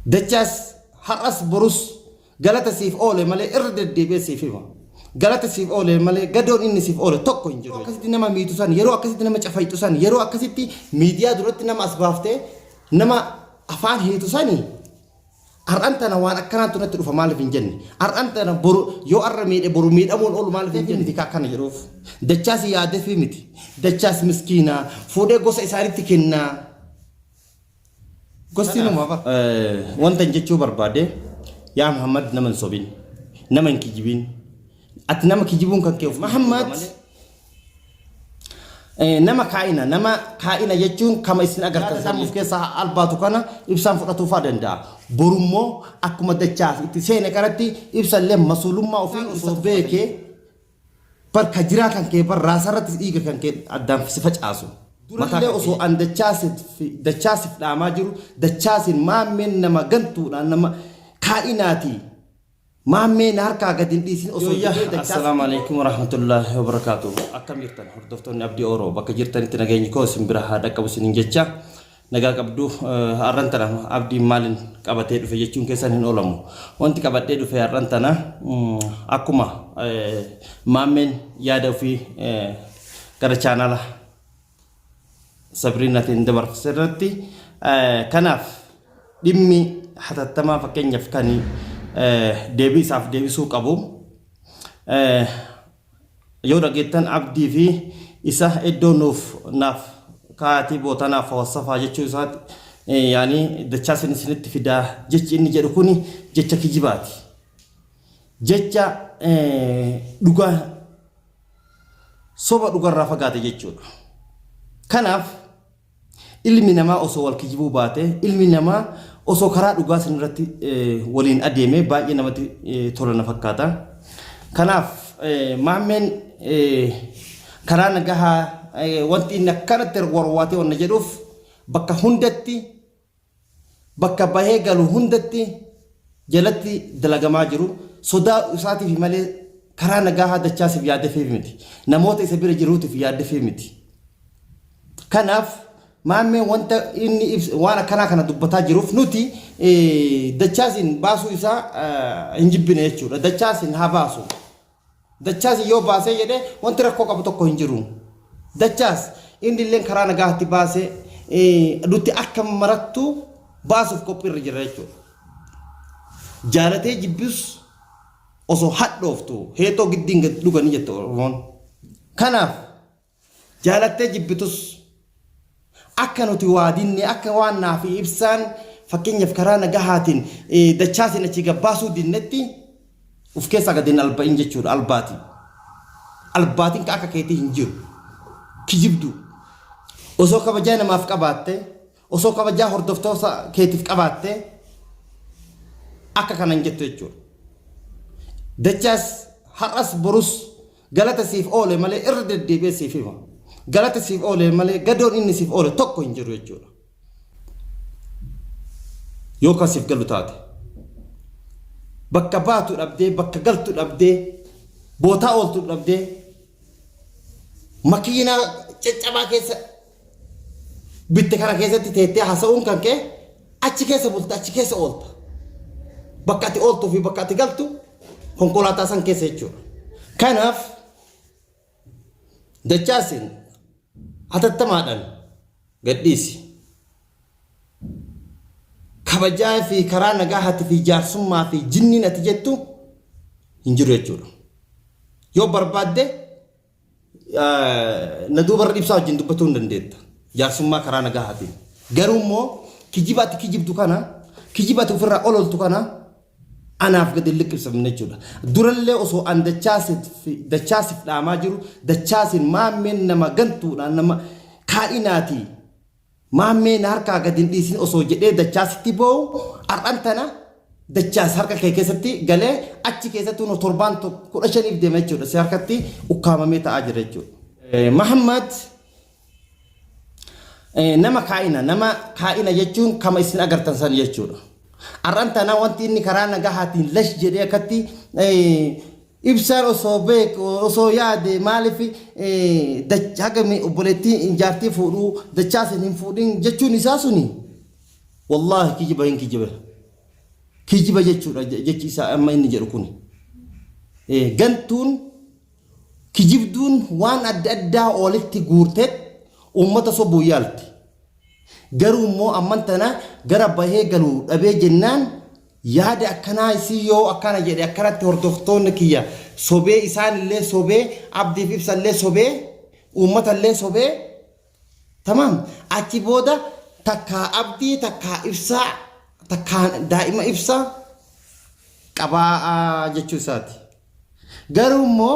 Dachaas har'as borus galata siif oole malee irra deddeebi'ee siif hima. Galata siif oole malee gadoon inni siif oole tokko hin jiru. Akkasitti nama miitu san yeroo akkasitti nama cafayxu san yeroo akkasitti miidiyaa duratti nama as baaftee nama afaan hiitu sani har'an tana waan akkanaatu natti dhufa maaliif hin jenne har'an tana boru yoo har'a miidhe boru miidhamuun oolu maaliif hin jenne miti akkana jedhuuf dachaas yaadeefii miti dachaas miskiinaa fuudhee gosa isaanitti kennaa Gosti nama afa. Wantan jechuu barbaade yaa Muhammad nama hin sobin nama hin kijibin ati nama kijibuun kan kee of Muhammad Eh, nama kaa'ina nama kaa'ina jechuun kama isin agartan san of keessaa albaatu kana ibsaan fudhatuufaa danda'a borummoo akkuma dachaas itti seene kanatti ibsallee masuulummaa ofii osoo beekee Bar ka jiraa kan kee bar raasarratti dhiiga kan kee addaan si facaasu. Durallee osoo an dachaa sif dhaamaa jiru dachaasin maammeen nama gantuudha nama kaa'inaati maammee na harkaa gad hin dhiisin osoo Yoyya, jedhee dachaa Assalaamu alaikum warahmatullahi wabarakatuh. Akkam jirtan hordoftoonni Abdii Oro bakka jirtanitti nageenyi koo isin bira haa dhaqqabu isinin jecha. Nagaa qabduu? Har'an tana Abdiin maalin qabatee dhufe jechuun keessan hin oolamu. Wanti qabadhee dhufe har'an tana akkuma maammeen yaada ofii gara chaanaala Sabriinaatiin dabarse irratti kanaaf dhimmi hatattamaa fakkeenyaaf kan deebii isaaf deebisuu qabu Yoo dhageettan abdii fi isa iddoo nuuf naaf kaa'aatii bootanaa fawassafaa jechuu isaati yaani dachaasin isinitti fidaa jechi inni jedhu kuni jecha kijibaati jecha dhugaa soba dhugarraa fagaate jechuudha kanaaf Ilmi namaa osoo wal kijibuu baatee, ilmi namaa osoo karaa dhugaa san irratti waliin adeemee baay'ee namatti tola na fakkaata. Kanaaf maammeen karaa nagahaa wanti inni akkanatti warwaatee wanna jedhuuf bakka hundatti bakka bahee galu hundatti jalatti dalagamaa jiru sodaa isaatiif malee karaa nagaahaa dachaasiif yaaddefiif miti. Namoota isa bira jiruutiif yaaddefiif miti. Kanaaf maammeen wanta inni waan akkanaa kana dubbataa jiruuf nuti dachaasiin baasuu isaa hin jibbine jechuudha. Dachaasiin haa baasu. Dachaas yoo baasee jedhee wanti rakkoo qabu tokko hin jiru. Dachaas inni illee karaa nagaatti baasee nuti akka marattuu baasuuf qophiirra jira jechuudha. Jaalatee jibbus osoo hadhooftu heexoo giddiin gad dhuganii jette Oromoon. Kanaaf Jaalattee jibbitus akka nuti waa dinne akka waan naa fi ibsaan fakkeenyaaf karaa nagahaatiin dachaasin achii gabbaasuu dinnetti uf keessaa gad hin alba'in jechuudha albaatiin. Albaatiin ka akka keetii hin jiru. Kijibduu. Osoo kabajaa namaaf qabaatte osoo kabajaa hordoftoota keetiif qabaatte akka kanan jettu jechuudha. Dachaas har'as borus Galata siif oole malee irra deddeebi'ee siif hima. Galata siif oole malee gadoon inni siif oole tokko hin jiru jechuudha. Yoo kan siif galu taate. Bakka baatu dhabdee, bakka galtu dhabdee, bootaa ooltu dhabdee, makiinaa caccabaa keessa bitte kana keessatti teettee haasa'uun kan kee achi keessa bulta achi keessa oolta. Bakka ati ooltuu fi bakka ati galtu konkolaataa san keessa jechuudha. Kanaaf dachaasin hatattamaadhaan gadhiisi. Kabajaa fi karaa nagaa hati fi jaarsummaa fi jinniin ati jettu hin jiru jechuudha. Yoo barbaadde na duuba irra ibsaa wajjin dubbachuu hin dandeetta. Jaarsummaa karaa nagahaatiin. Garuu immoo kijiba ati kijibdu kana kijiba ati ofirraa ololtu kana anaaf gadi liqimsamne jechuudha. Durallee osoo an dachaasiif dhaamaa jiru dachaasiin maammeen nama gantuudhaan nama kaadhinaatii Maammee na harkaa gad hin dhiisin osoo jedhee Dachaasitti boo'u har'an tana Dachaas harka kee keessatti galee achi keessattuu nu torbaan tokko kudha shaniif deema jechuudha. Si harkatti ukkaamamee ta'aa jira jechuudha. Mahammad nama kaa'ina nama kaa'ina jechuun kama isin agartan san jechuudha. Har'an tana wanti inni karaa nagahaatiin lash jedhee akkatti Ibsaan osoo beeku osoo yaade maaliif haga obboleettiin jaartii fuudhu dachaa sin hin fuudhin jechuun isaa suni wallaahi kijiba hin kijiba kijiba jechuudha jechi isaa amma inni jedhu kun gantuun kijibduun waan adda addaa olitti guurtee uummata sobuu yaalti garuu immoo amman tana gara bahee galu dhabee jennaan Yaadi akkanaa isii yoo akkana jedhe akkanatti hordoftoonni kiyya sobee isaan illee sobee abdiif ibsa illee sobee uummata illee sobee tamam achi booda takkaa abdii takkaa ibsaa takkaa daa'ima ibsaa qabaa jechuu isaati. Garuu immoo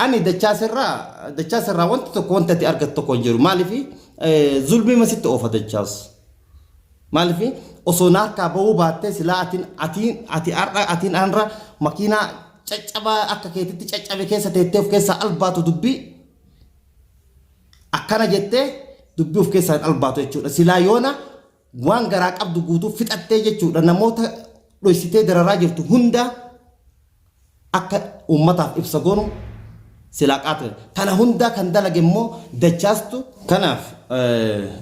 ani dachaas irraa dachaas irraa wanti tokko wanti ati argattu tokko hin jiru. Maaliif zulmii masitti oofa dachaas. Maaliif osoo na harkaa bahuu baattee silaa atiin atiin ati har'a atiin anra makiinaa caccabaa akka keetitti caccabe keessa teettee of keessaa albaatu dubbii akkana jettee dubbii of keessaa hin albaatu jechuudha. Silaa yoona Waan garaa qabdu guutuu fixattee jechuudha namoota dhoysitee dararaa jirtu hundaa akka uummataaf ibsa goonu silaa qaata. Kana hundaa kan dalage immoo dachaastu. Kanaaf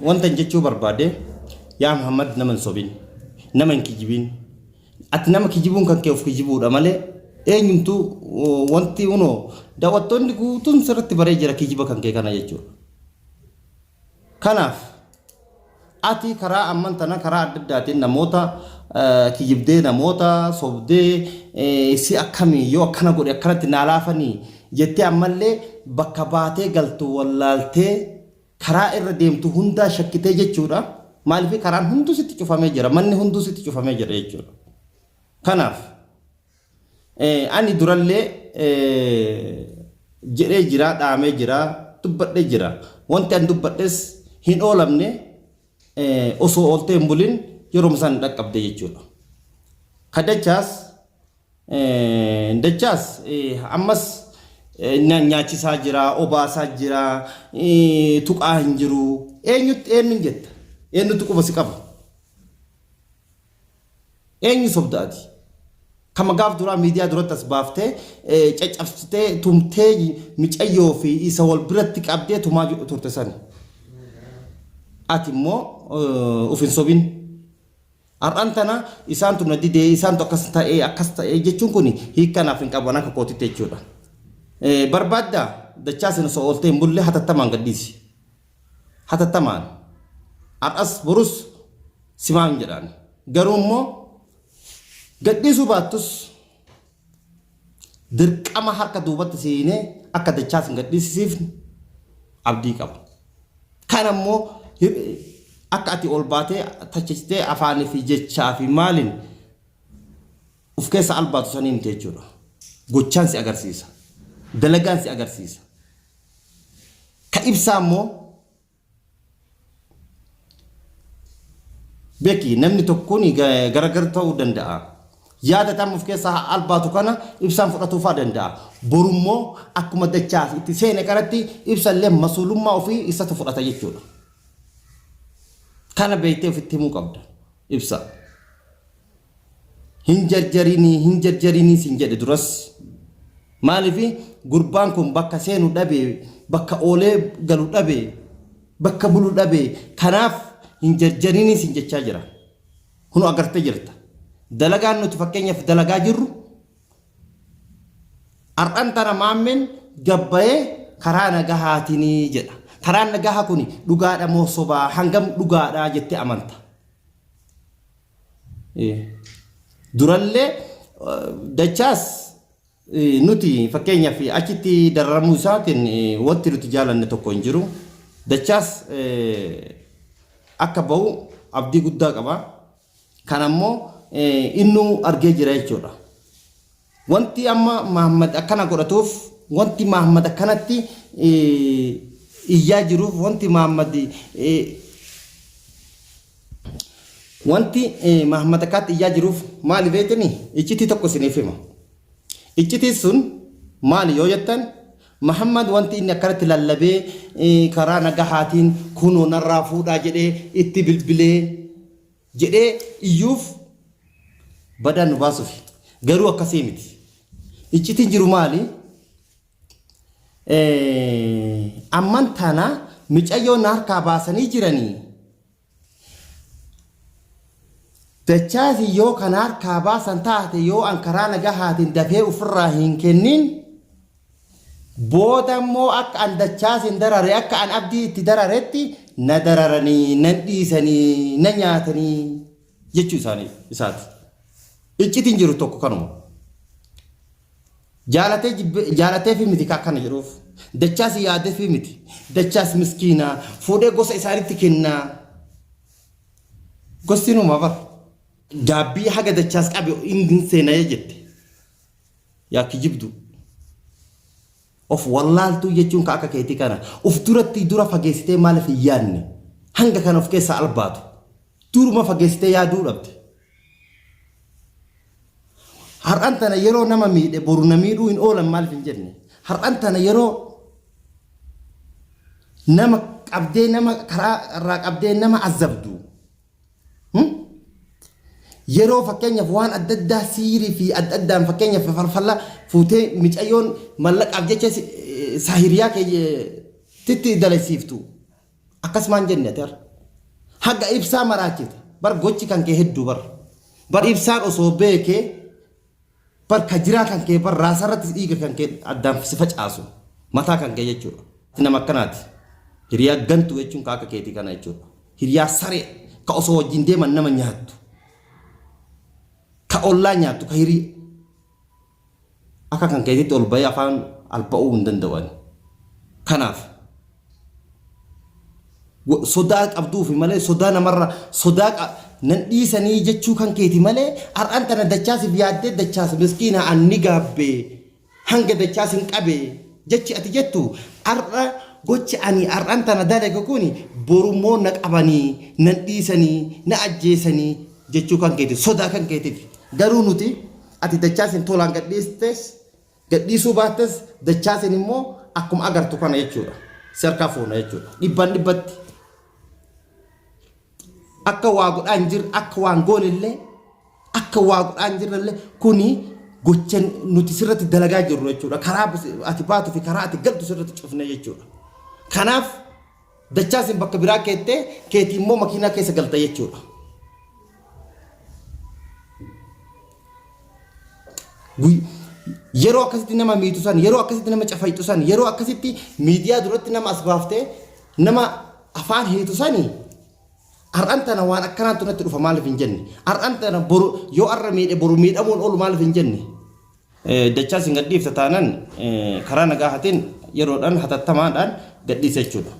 wantan jechuu barbaade yaa Muhammad nama hin sobin nama hin kijibiin ati nama kijibuun kan kee of kijibuudha malee eenyumtuu wanti unoo daawwattoonni guutuun sirratti baree jira kijiba kan kee kana jechuudha. Kanaaf, ati karaa amman tana karaa adda addaatiin namoota kijibdee, namoota sobdee, si akkami yoo akkana godhe akkanatti naa laafanii jettee ammallee bakka baatee galtu wallaaltee karaa irra deemtu hundaa shakkitee jechuudha. Maaliif karaan hunduu sitti cufamee jira, manni hunduu sitti cufamee jira jechuudha. Kanaaf, Ani durallee jedhee jira, dhaamee jira, dubbadhee jira. Wanti an dubbadhes hin oolamne osoo ooltee hin bulin yeroo isaan hin dhaqqabde jechuudha. Ka dachaas dachaas ammas nyaachisaa jira, obaasaa jira, tuqaa hin jiru. Eenyutti eenyuun jetta? Eenyutti quba si qaba? Eenyu sobda ati? Kama gaaf duraa miidiyaa duratti as baaftee caccabsitee tumtee micayyoo fi isa wal biratti qabdee tumaa turte sani. Ati immoo of hin sobin. Har'aan tana isaantu na didee isaantu akkas ta'ee akkas ta'ee jechuun kun hiikkanaaf hin qaban akka kootitti jechuudha. Barbaaddaa dachaa sana osoo ooltee hin bulle hatattamaan gadhiisi. hatattamaan har'as borus si waamna jedhaan. Garuu immoo gadhiisuu baattus dirqama harka duubatti si hiinee akka dachaa sin gadhiisisiifnu abdii qaba. Kana immoo akka ati ol baatee tachistee afaanii fi jechaa fi maaliin uf keessa albaatu sanii miti jechuudha. Gochaan si agarsiisa. Dalagaan si agarsiisa. Ka ibsaa immoo beeki namni tokkoon garagar ta'uu danda'a. Yaada tam of keessaa albaatu kana ibsaan fudhatuufaa danda'a. Borummoo akkuma dachaaf itti seene kanatti ibsallee masuulummaa ofii isatu fudhata jechuudha. Kana beektee ofitti himuu qabda. Ibsa. hin jarjarinii hin jarjarinii sin jedhe duras maalifi gurbaan kun bakka seenu dhabe bakka oolee galu dhabe bakka bulu dhabe kanaaf hin jarjarinii sin jechaa jira kunu agarte jirta dalagaan nuti fakkeenyaaf dalagaa jirru har'an tana maammeen gabbayee karaa nagahaatinii jedha karaan nagahaa kun dhugaadha moo sobaa hangam dhugaadha jettee amanta Durallee dachaas nuti fakkeenyaaf achitti dararamuu isaatiin wanti nuti jaalanne tokko hin jiru. Dachaas akka ba'u abdii guddaa qaba. Kan ammoo innuu argee jira jechuudha. Wanti amma Mahaammad akkana godhatuuf, wanti Mahaammad akkanatti iyyaa jiruuf, wanti Mahaammad wanti Mahaammad akkaatti iyyaa jiruuf maali beektanii? Iccitii tokko isiniif hima. Iccitiin sun maali yoo jettan Mahaammad wanti inni akkanatti lallabee karaa nagahaatiin kunoo narraa fuudhaa jedhee itti bilbilee jedhee iyyuuf badaan nu baasufi. Garuu akkasii miti. Iccitiin jiru maali? Amman tana micayyoo na harkaa baasanii jiranii. Dachaasi yoo kan harkaa baasan taate yoo an karaa nagahaatiin dafee ofirraa hin kennin Booda immoo akka an dachaa isin darare akka an abdii itti dararetti na dararanii, nan dhiisanii, na nyaatanii jechuu isaanii isaati. Iccitiin jiru tokko kanuma. Jaalatee jibbe- jaalatee fi miti akkana jedhuuf. Dachaas yaadee fi miti. Dachaas miskiinaa fuudhee gosa isaanitti kennaa. Gosti numa bara. Gaabbii haga dachaas qabe hin seenayee jette. Yaa kijibdu. Of wallaaltuu jechuun ka akka keetii kana. Of duratti dura fageessitee maaliif hin yaadne? Hanga kana of keessaa albaatu. Duruma fageessitee yaaduu dhabde. Har'an tana yeroo nama miidhe boru na miidhuu hin oolan maaliif hin jenne? Har'an tana yeroo nama qabdee nama karaa irraa qabdee nama azabdu. Yeroo fakkeenyaaf waan adda addaa siirii fi adda addaan fakkeenyaaf farfalla fuutee micayyoon mallaqaaf jecha saahiriyaa keetitti dalasiiftu akkasumaan jenne ati har'a. Haga ibsaa maraachite bar gochi kan kee hedduu bar. Bar ibsaan osoo beekee Bar ka jiraa kan kee bar raasaa irratti dhiiga kan kee addaan si facaasu mataa kan kee jechuudha. Ati nama akkanaati. Hiriyaa gantuu jechuun ka akka keetii kana jechuudha. Hiriyaa saree ka osoo wajjin deeman nama nyaattu. Ka ollaa nyaattu ka hirii. Akka kan keetiitti ol bahee afaan alba'uu hin danda'u ani. Kanaaf. Sodaa qabduufi malee sodaa namarra sodaa qa nan dhiisanii jechuu kan keeti malee har'an tana dachaasif yaaddee dachaas miskiina an ni gaabbe hanga dachaas hin qabe jechi ati jettu har'a gochi ani har'an tana dalage kuni borummoo na qabanii nan dhiisanii na ajjeesanii jechuu kan keeti sodaa kan keetiif garuu nuti ati dachaas hin tolaan gadhiistes Gadhiisuu baattes Dachaasiin immoo akkuma agartu kana jechuudha. Si harkaa fuuna jechuudha. Dhibbaan dhibbatti. Akka waa godhaa hin jirre akka waan goone illee akka waa godhaa hin jirre illee kuni gocha nuti sirratti dalagaa jirru jechuudha. Karaa ati baatu fi karaa ati galtu sirratti cufne jechuudha. Kanaaf Dachaasiin bakka biraa keettee keetii immoo makiinaa keessa galta jechuudha. Guyy- Yeroo akkasitti nama miitu san, yeroo akkasitti nama cafayxu san, yeroo akkasitti miidiyaa duratti nama as baaftee nama afaan hiitu sani har'an tana waan akkanaatu natti dhufa maaliif hin jenne? Har'an tana boru yoo har'a miidhe boru miidhamuun oolu maaliif hin jenne? Dachaa isin gadhiifta taanan karaa nagaa hatin yeroodhaan hatattamaadhaan gadhiisa jechuudha.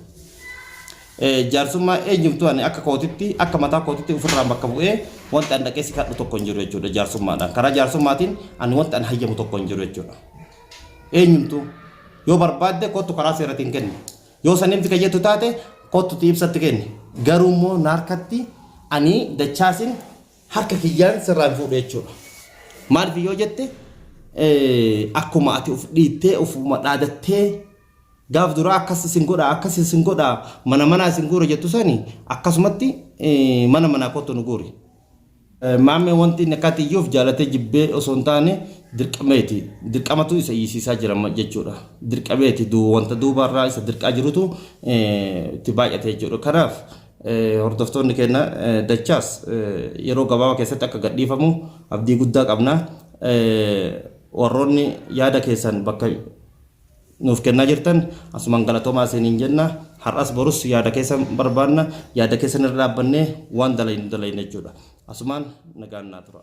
Jaarsummaa eenyumtuu ani akka kootitti akka mataa kootitti ofirraan bakka bu'ee wanta an dhaqee si kadhu tokko hin jiru jechuudha jaarsummaadhaan. Karaa jaarsummaatiin ani wanta an hayyamu tokko hin jiru jechuudha. Eenyumtuu yoo barbaadde kottu karaa seeratiin kenni. Yoo san himti kayyattu taate kottu ibsatti kenni. Garuu immoo naarkatti ani dachaasin harka kiyyaan sirraa hin fuudhu jechuudha. Maaliif yoo jette akkuma ati of dhiittee ofuma dhaadattee gaaf duraa akkas isin godha akkas isin godha mana manaa isin guura jettu sani akkasumatti mana manaa kottu nu guuri. Maammee wanti inni akkaatii iyyuuf jaalatee jibbee osoo hin taane dirqameeti. Dirqamatu isa iyyisiisaa jira jechuudha. Dirqameeti wanta duubarraa isa dirqaa jirutu itti baay'ate jechuudha. Kanaaf Hordoftoonni keenya dachaas yeroo gabaabaa keessatti akka gadhiifamu abdii guddaa qabna. Warroonni yaada keessan bakka nuuf kennaa jirtan asumaan galatoomaa isiniin jenna. Har'as borus yaada keessan barbaanna. Yaada keessan irra dhaabbannee waan dalaynu dalayna jechuudha. Asumaan nagaan naa tura.